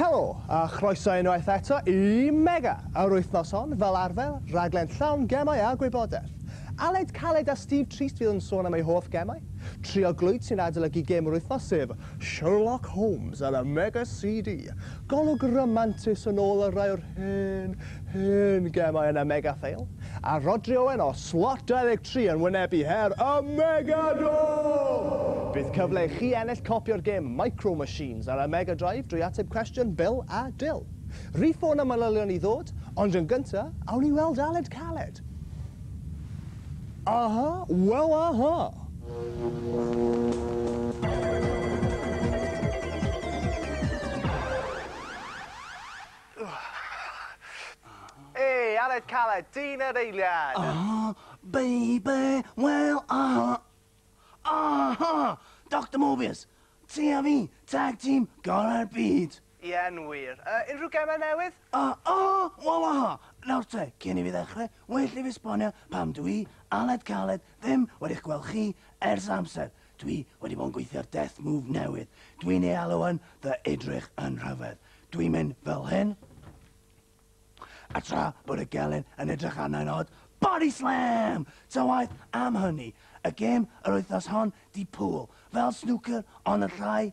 Helo, a chroeso unwaith eto i Mega, yr wythnos hon, fel arfer, rhaglen llawn gemau a gwybodaeth. Aled Caled a Steve Trist fydd yn sôn am eu hoff gemau. Trio Glwyd sy'n adolygu gêm yr wythnos sef Sherlock Holmes ar y Mega CD. Golwg ramantus yn ôl ar rai o'r hen Hen gemau yn y Mega Fail, a Rhodri Owen o Slot 23 yn wynebu her y Megador! Bydd cyfle i chi ennill copi o'r gêm Micro Machines ar y Mega Drive drwy ateb cwestiwn Bil a Dil. Rhif ffôn a manylion i ddod, ond yn gynta, awn i weld Aled Caled! Aha, wel aha! Hey, Aled Caled, dyn yr eiliad! Aha, baby, well, aha! Aha! Doctor Morbius! Ti a fi, tag team, gorau'r byd! Ie'n wir. Uh, unrhyw gemau newydd? Ah, aha, well, aha! Nawr te, cyn i fi ddechrau, well i fi esbonio pam dwi, Aled Caled, ddim wedi'ch gweld chi ers amser. Dwi wedi bod yn gweithio ar death move newydd. Dwi'n ei alw yn fy edrych yn rhyfedd. Dwi'n mynd fel hyn. A tra bod y gelyn yn edrych arnau'n od, body slam! Ta waeth am hynny, y gêm yr wythnos hon di pŵl, fel snwcer ond yn llai,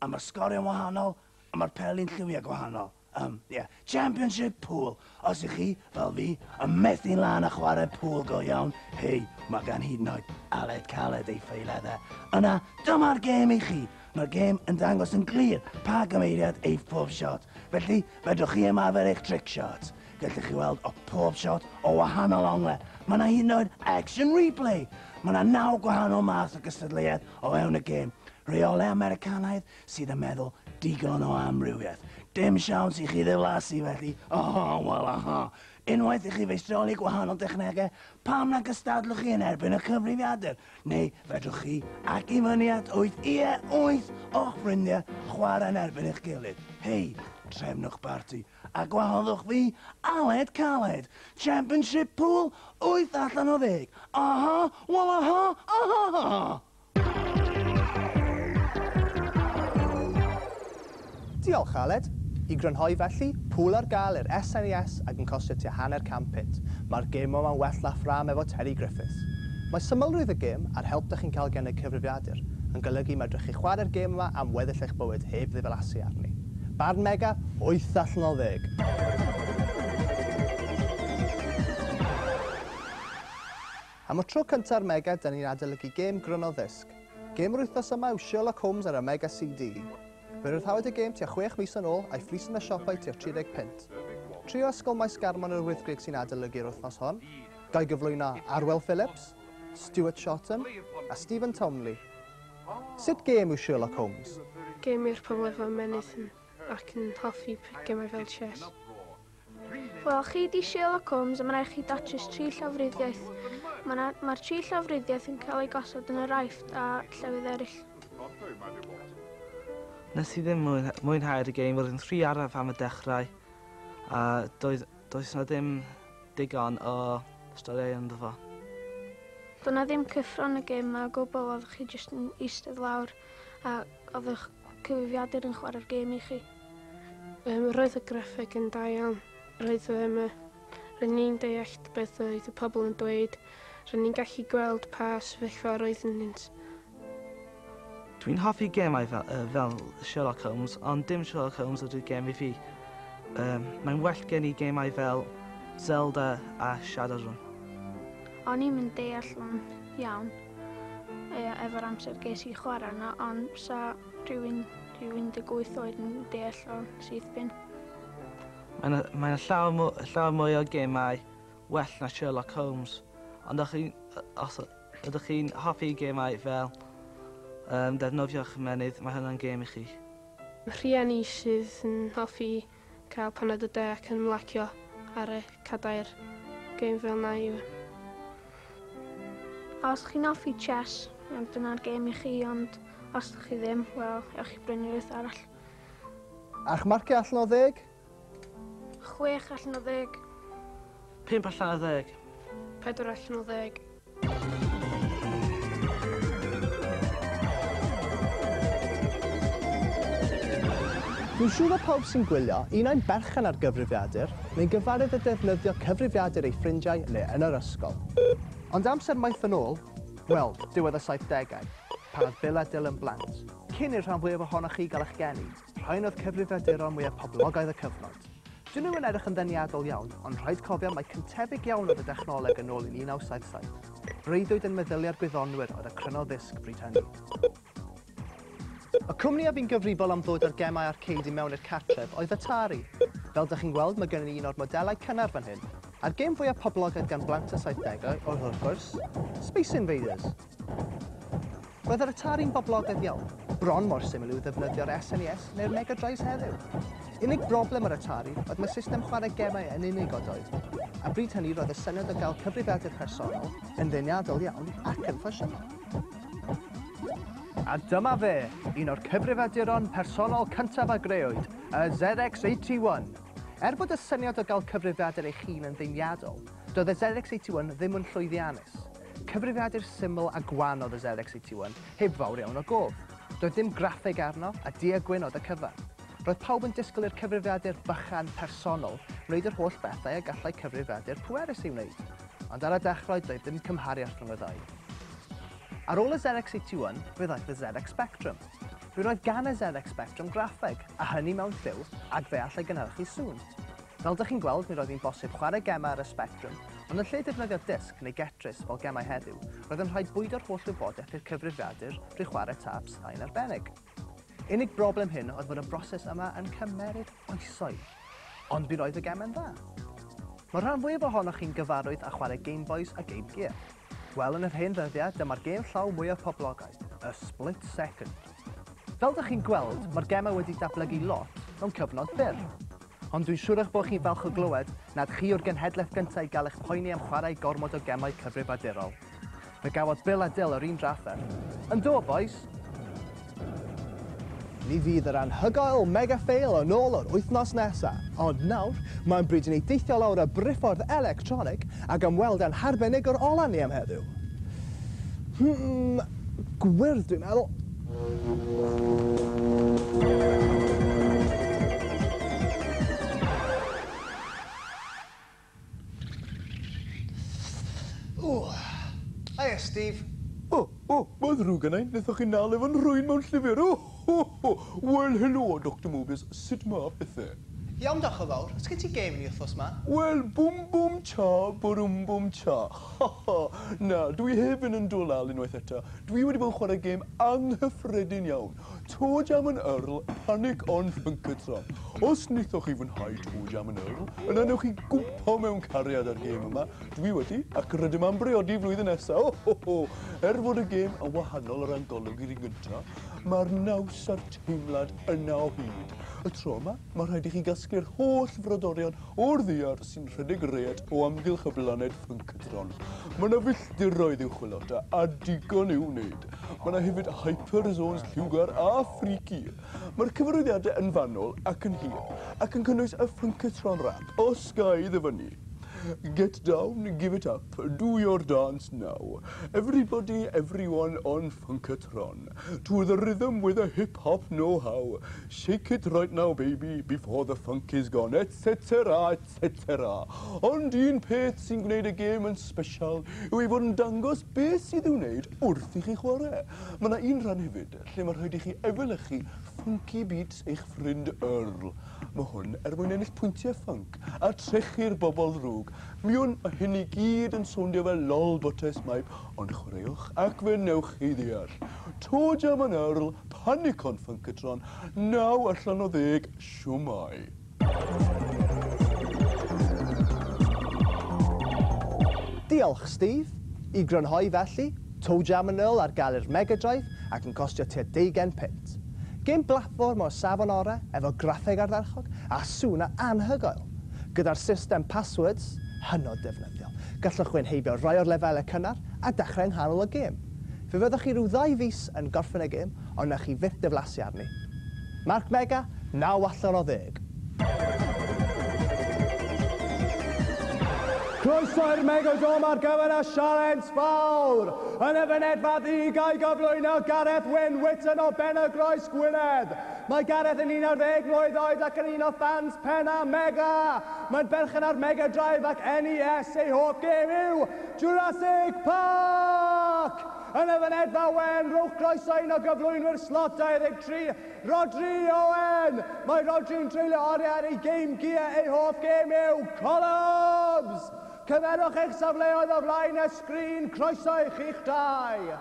a mae'r sgoriau'n wahanol, a mae'r peli'n lliwiau gwahanol. Um, yeah. Championship pool. Os ych chi, fel fi, yn methu lan a chwarae pool go iawn, hei, mae gan hyd yn oed Aled Caled ei ffeileddau. Yna, dyma'r gêm i chi. Mae'r gêm yn dangos yn glir pa gymeiriad ei phob shot. Felly, fedrwch chi ymarfer eich trick shot. Gallwch chi weld o pob shot o wahanol ongle. Mae yna hyd yn oed action replay. Mae yna naw gwahanol math o gystadleuaeth o fewn y gêm. Rheolau Americanaidd, sydd yn meddwl digon o amrywiaeth. Dim siawns i chi ddiflasu felly, aha, wel aha. Unwaith i chi feistroli gwahanol dechnegau, pam na gystadlwch chi yn erbyn y cyfrifiadur? Neu fedrwch chi, ac i fyny at wyth, ie, wyth o'ch ffrindiau, chwarae yn erbyn eich gilydd. Hei, trefnwch barti, a gwahoddwch fi, Aled Caled! Championship pool, wyth allan o ddeg, aha, wel aha, aha! Diolch, Aled. I grynhoi felly, pŵl ar gael i'r SNES ac yn costio tua hanner can punt. Mae'r gêm yma'n well laff ffrâm efo Terry Griffiths. Mae symlrwydd y gêm, a'r help dych chi'n cael gan y cyfrifiadur, yn golygu medrwch chi chwarae'r gêm yma am weddill eich bywyd heb ddiflasu arni. Barn Mega, wyth allan o ddeg! Am y tro cynta ar Mega, da ni'n adolygu gêm gryno ddisg. Gêm yr wythnos yma yw Sherlock Holmes ar y Mega CD. Fe ryddhawyd y gêm tua chwech mis yn ôl, a'i phris yn y siopau tua 30 punt. Tri o Ysgol Maes Garmon yr Wyddgrug sy'n adolygu'r wythnos hon, ga'i gyflwyno Arwel Phillips, Stuart Shotton a Stephen Townley. Sut gêm yw Sherlock Holmes? Gêm i'r pobl efo ymennydd ac yn hoffi gemau fel chess. Wel, chi di Sherlock Holmes a mae'n rhaid chi datrys tri llawfryddiaeth. Mae'r ma tri llawfryddiaeth yn cael ei gosod yn yr aifft a llefydd eraill. Nes i ddim mwynhau'r game, roedd yn rhy araf am y dechrau a doedd, does na ddim digon o storiau ynddo fo. Doedd na ddim cyffron y game a gwbl, oedd chi jyst yn eistedd lawr a oedd eich cyfrifiadur yn chwarae'r game i chi. Yym, roedd y graffeg yn da iawn. Roedd um, roedd ni'n deallt beth oedd y pobl yn dweud. Roedd ni'n gallu gweld pa sefyllfa roedd yn ynddynt. Dwi'n hoffi gemau fel, uh, fel Sherlock Holmes, ond dim Sherlock Holmes ydy'r gem i fi. Um, mae'n well gen i gemau fel Zelda a Shadowrun. O'n i'n mynd deall yn iawn e, efo'r amser ges i chwarae yna, ond sa rhywun Dwi 18 oed yn deall o'r syth bin. Mae yna mae yna llawer mw- llawer mwy o gemau well na Sherlock Holmes. Ond ydych chi'n yy os y- ydych chi'n hoffi gemau fel yym defnyddio'ch ymennydd mae hwnna'n gêm i chi. Rhieni sydd yn hoffi Cael paned o de ac ymlacio ar y cadair gêm fel na yw e. A os chi'n hoffi chess, wel dyna'r gêm i chi ond os ydych chi ddim, wel ewch i brynu rhywbeth arall. A'ch marciau allan o ddeg? Chwech allan o ddeg. Pump allan o ddeg. Pedwar allan o ddeg. Dwi'n siŵr bod pawb sy'n gwylio, un ai'n berchen ar gyfrifiadur, neu'n gyfarwydd â defnyddio cyfrifiadur ei ffrindiau neu yn yr ysgol. Ond amser maith yn ôl, wel, diwedd y saithdegau, pan oedd Bill a Dylan blant, cyn i'r rhan fwyaf ohonoch chi gael eich geni, Rhain oedd cyfrifiaduron mwyaf poblogaidd y cyfnod. Dyn nhw yn edrych yn ddeniadol iawn, ond rhaid cofio mai cyntefig iawn oedd y dechnoleg yn ôl yn 1977. Breuddwyd yn meddyliau'r gwyddonwyr oedd y cryno ddisg bryd hynny. Y cwmni a fu'n gyfrifol am ddod â'r gemau arcade i mewn i'r cartref oedd Atari. Fel dych chi'n gweld, mae gennym ni un o'r modelau cynnar fan hyn. A'r gêm fwyaf poblogaidd gan blant y 70au oedd, wrth gwrs, Space Invaders. Roedd yr Atari'n boblogaidd iawn, bron mor syml i'w ddefnyddio ar SNES neu'r Mega Drives heddiw. Unig broblem yr Atari oedd mae system chwarae gemau yn unigodoedd. A bryd hynny roedd y syniad o gael cyfrifiadur personol yn ddeniadol iawn ac yn ffasiynol. A dyma fe, un o'r cyfrifiaduron personol cyntaf a grëwyd, y ZX81. Er bod y syniad o gael cyfrifiadur eich hun yn ddeniadol, doedd y ZX81 ddim yn llwyddiannus. Cyfrifiadur syml a gwan oedd y ZX81, heb fawr iawn o gof. Doedd dim graffeg arno, a du-a gwyn oedd y cyfan. Roedd pawb yn disgwyl i'r cyfrifiadur bychan, personol, wneud yr holl bethau y gallai cyfrifiadur pwerus ei wneud. Ond ar y dechrau doedd dim cymhariaeth rhwng y ddau. Ar ôl y ZX81, fe ddaeth y ZX Spectrum. Mi roedd gan y ZX Spectrum graffeg, a hynny mewn lliw, ac fe all ei gynhyrchu sŵn. Fel dych chi'n gweld, nid oedd hi'n bosib chwarae gemau ar y sbectrwm, ond yn lle defnyddio disc neu getris fel gemau heddiw, roedd yn rhaid bwydo'r holl wybodaeth i'r cyfrifiadur drwy chwarae taps a un arbennig. Unig broblem hyn oedd fod y broses yma yn cymeryd oesoedd, ond mi roedd y gemau'n dda. Mae'r rhan fwyaf ohonoch chi'n gyfarwydd â chwarae Game Boys a Game Gear. Wel, yn yr hen ddyddiau, dyma'r gêm llaw mwyaf poblogaidd, y Split Second. Fel dych chi'n gweld, mae'r gemau wedi datblygu lot mewn cyfnod byr. Ond dwi'n siwr eich bod chi'n falch o glywed nad chi yw'r genhedlaeth gyntaf i gael eich poeni am chwarae gormod o gemau cyfrifiadurol. Fe gafodd Bill a Dill yr un drafferth. Yndw, bois! Mi fydd yr anhygoel Mega Fail yn ôl yr wythnos nesa. Ond nawr, mae'n bryd i ni deithio lawr y briffordd electronig ac ymweld â'n harbenigwr ola ni am heddiw. Hmm, gwyrdd dwi'n meddwl. Hiya, Steve. O, o, mae'n ddrwg gynna i, wnaethoch chi nal efo'n nhrwyn mewn llyfr! O, ho, ho! Wel, helo, Doctor Morbius, sut ma pethe? Iawn, diolch yn fawr. Oes gen ti gêm i ni wthnos ma? Wel, bum bum cha, burumbbum chach. Haha! Na, dw i heb fynd yn dwlal unwaith eto. Dw i wedi bod yn chwarae gêm anghyffredin iawn, Toe Jam and Earl, Panic on Funkatron. Os wnaethoch chi fwynhau Toe Jam and Earl, yna wnewch chi gwmpo mewn cariad â'r gêm yma. Dw i wedi, ac rydym am briodi flwyddyn nesa! O ho ho! Er fod y gêm yn wahanol o ran golwg i'r un gynta, mae'r naws a'r teimlad yna o hyd. Y tro yma, mae rhaid i chi gasglu'r holl frodorion o'r ddaear sy'n rhedeg y rêt o amgylch y blaned ffynctron. Mae yna filltiroedd i'w chwilota a digon i'w wneud. Mae yna hefyd hyperzones lliwgar a freaky. Mae'r cyfarwyddiadau yn fanwl ac yn hir, ac yn cynnwys y ffynctron rap o Skye ddyfynnu. Get down, give it up, do your dance now. Everybody, everyone on ffynctron. To the rhythm with a hip-hop know-how. Shake it right now baby, before the funk is gone, etc. Cetera, cetera. Ond un peth sy'n gwneud y gêm yn sbesial yw ei fod yn dangos beth sydd i'w wneud wrth i chi chwarae. Mae 'na un rhan hefyd lle mae rhaid i chi efelychu funky beats eich ffrind Earl. Mae hwn er mwyn ennill pwyntiau ffunk a trechu'r bobl ddrwg. Mi wn, mae hyn i gyd yn sowndio fel lol botes maip ond chwaraewch ac fe wnewch chi ddeall. Toe Jam and Earl, panic on Funkatron, naw allan o ddeg, shwmae. Diolch, Steve! I grynhoi felly, Toe Jam yn ôl ar gael i'r Mega Drive ac yn costio tua deugain punt. Gêm blatfform o'r safon orau efo graffeg ardderchog a sŵn anhygoel. Gyda'r system passwords, hynod ddefnyddiol, gallwch wynheibio rhai o'r lefelau cynnar a dechrau yng nghanol y gêm. Fe fyddwch chi rhyw ddau fis yn gorffen y gêm ond wnewch chi fyth diflasu arni. Mark Mega, naw allan o ddeg. Croeso i'r Megodome ar gyfer y sialens fawr! Yn y fynedfa ddu ga'i gyflwyno Gareth Wyn Whitton o Benygroes, Gwynedd. Mae Gareth yn 11 mlwydd oed ac yn un o ffans pennaf Mega! Mae'n berchen ar Mega Drive ac NES ei hoff gêm yw Jurassic Park! Yn y fynedfa wen, rhowch groeso un o gyflwynwyr Slot 23, Rhodri Owen! Mae Rhodri'n treulio oriau ar ei Game Gear, ei hoff gêm yw Colobs! Cymerwch eich safleoedd o flaen y sgrin, croeso i chi'ch dau!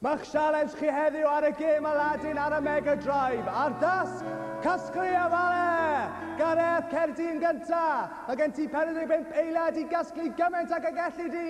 Mae'ch sialens chi heddiw ar y gêm Aladdin ar y Mega Drive, a'r dasg, Casglu a Fale! Gareth, cer di yn gynta! Mae gen ti 45 eiliad i gasglu gymaint ag y gelli di!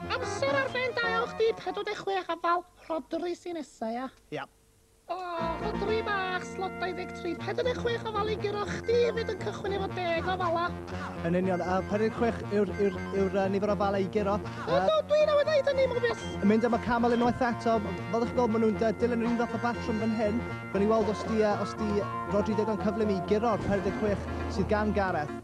Amser ar ben da iawn chdi, 46 a fal, Rhodri sy'n nesa ia? Ia. O, Rhodri bach, slot 23, 46 o fal i guro chdi hefyd yn cychwyn efo deg o fala. Yn union, a 46 yw'r yw, yw, yw, nifer o fala i guro. O, do, dwi'n awydd ddeud hynny, Morbius. Yn mynd am y camel unwaith eto, fel ych gweld maen nhw'n dilyn yr un fath o batrwm fan hyn. Gawn ni weld os di, os di Rodri ddigon cyflym i guro'r 46 sydd gan Gareth.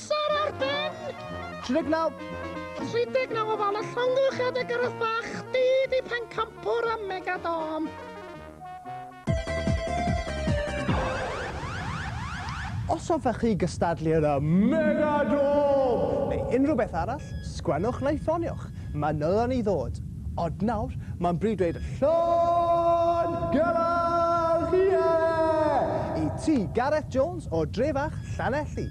Amser ar ben! 39! 39 o fal a llongyfarch adeg Gareth Bach, dydd i Pencampwr a Megadom! Os hoffech chi gystadlu yn y Megadom! neu unrhyw beth arall, sgwennwch neu ffoniwch, manylion i ddod! Ond nawr, mae'n bryd dweud 'Llond Gelawdd Ie! i ti, Gareth Jones o dre fach Llanelli.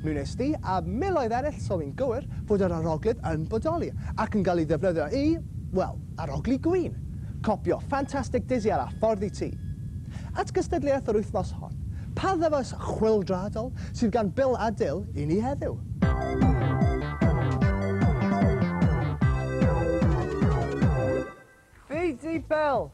Mi wnes di, a miloedd eraill, soni'n gywir fod yr aroglyd yn bodoli ac yn cael ei ddefnyddio i, wel, arogli gwin. Copïo ffantastig Dizzy ar â ffordd i ti. At gystadleuaeth yr wythnos hon, pa ddyfais chwyldroadol sydd gan Bill a Dil i ni heddiw. Fi 'di Bill!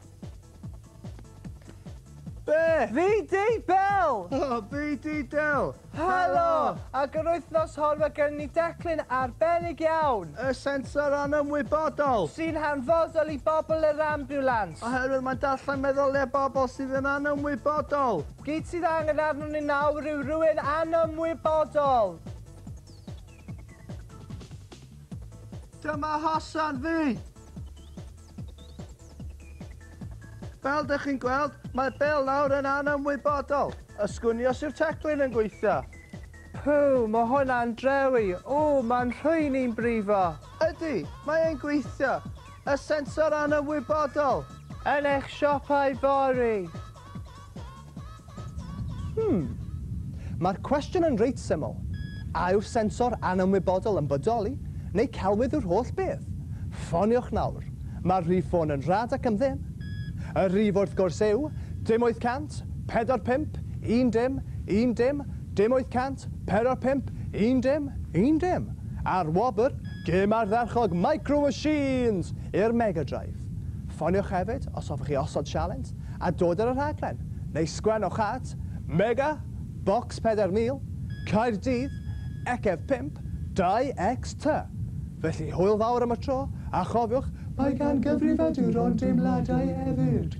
Be? Fi 'di Bill! O, fi 'di Dil! Helo! Ac yr wythnos hon mae gen ni declyn arbennig iawn! Y sensor anymwybodol! Sy'n hanfodol i bobl yr ambiwlans! Oherwydd mae'n darllen meddyliau bobl sydd yn anymwybodol! Gyd sydd angen arnon ni nawr yw rhywun anymwybodol! Dyma hosan fi! Fel dych chi'n gweld, mae Bill nawr yn anymwybodol. Y sgwnios yw'r teclyn yn gweithio. Puw, mae hwnna'n drewi. O, mae'n rhwy'n i'n brifo. Ydy, mae e'n gweithio. Y sensor anymwybodol. Yn eich siopau fory. Hmm. Mae'r cwestiwn yn reit syml. A yw'r sensor anymwybodol yn bodoli, neu celwydd yw'r holl beth? Ffoniwch nawr. Mae'r rhif ffôn yn rhad ac am ddim. Y rhif wrth gwrs yw, dim 800, pedwar pump, un dim, un dim, dim 800, pedwar pump, un dim, un dim. A'r wobr, gêm ardderchog Micro Machines! i'r Mega Drive. Ffoniwch hefyd, os hoffech chi osod sialens, a dod ar y rhaglen, neu sgwen o'ch hat, Mega, Bocs 4000, Caerdydd, Ecef 5, 2XT! Felly hwyl fawr am y tro, a chofiwch, mae gan gyfrifaduron deimladau hefyd!